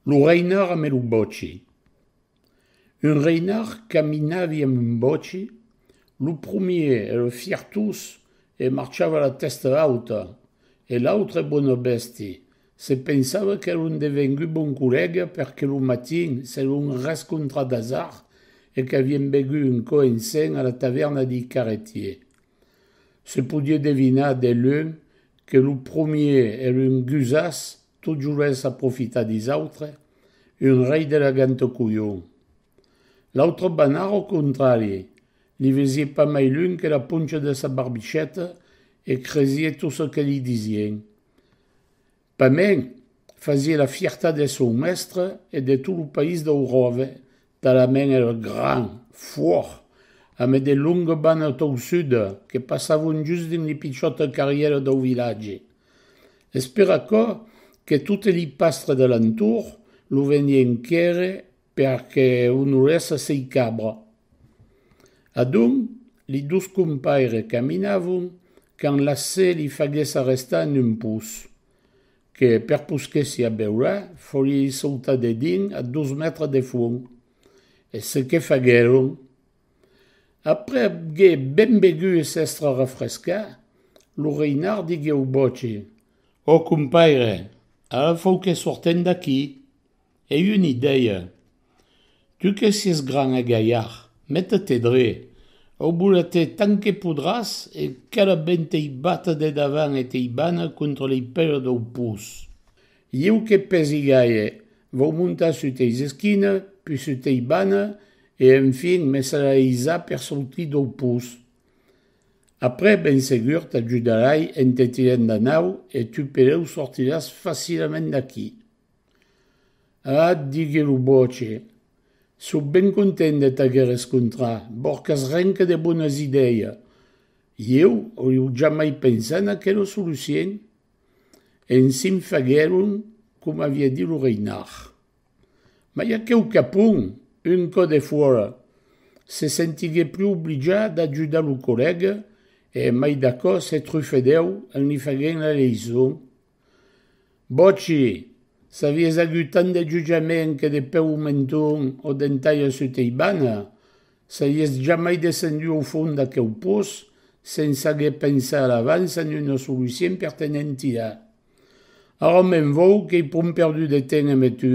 Lo reinard ame lo bòci. Un reinard caminavi ame un bòci, lo promier era fiertós e marchava la tèsta auta, e l'autre bona bèsti se pensava qu'era un devengut bon collèga perque lo matin s'èron rescontrat d'asard e qu'avien begut un cò ensenh a la tavèrna dei carretiers. Se podie devinar de lunh que lo promier era un gusàs Tot jovent sap profitar dis autres, un rei de la gent au colhon. L'autre banard au contrari, li vesié pas mai lunh que la poncha de sa barbicheta e cresié tot ce que li disien. Pas mens, fasié la fiertat de son mestre e de tot lo país dau ròve, Talament era gran fuòc ame de longa bana toussuda que passavon just dins li pichòta carrièra dau vilatge. Es per aquò que tote li pastre de l'entorn lo venien quèrre per que onorèsse sei cabra. Adonc, li dos compaires caminavon quand la se li faguèsse arrestar en un pus. que per posquèssi a beure forie issautade dins a dos mètres de fond. E ce que faguèron. Après abgue ben begut e s'èstre refrescat, lo Reinard digué au Boci. Ò compaire, ara fau que sortem d'aquí. E un i dèie, Tu que sies gran e galhard, mete-te dre, aubula-te tant que podràs e qu'èra ben t'ei bata de davant e t'ei bana contra lei pèla dau pus. Ieu que pèsi gaire, vau montar sut eis esquina, pus sut ei bana e enfin me serà eisà per sortir dau pus. Après ben segur t'ajudarai en te tirant da nau e tu peleu sortiràs facilament d'aquí. A, digué lo boche, sò ben content de t'aguer escontrat, borcas renca de bonas idèia! Ieu auiu jamai pensat en aquela solucien? En s'in faguèron coma aviá dit lo Reinard. Mai aqueu capon, un cò de fuòra, se sentiguèt plus oblijat d'ajudar lo collèga e, mai d'aquò, se trufedèu en li faguent la leison Bòci! S'avies agut tant de jutjament que de peu au menton o d'entaia sota ei bana, saries jamai descendut au fond d'aqueu poç sense aguer pensat a l'avans en una solucien per te ne'n tirar. Ara me'n vòu qu'ei pron perdut de temps emé tu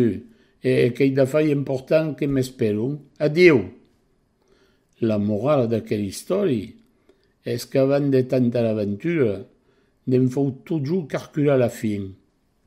e qu'ei d'afai important que m'esperon. Adiu! La morala d'aquel istòri es qu'avant de tanta aventura, ne'n fau totjorn carcular la fin.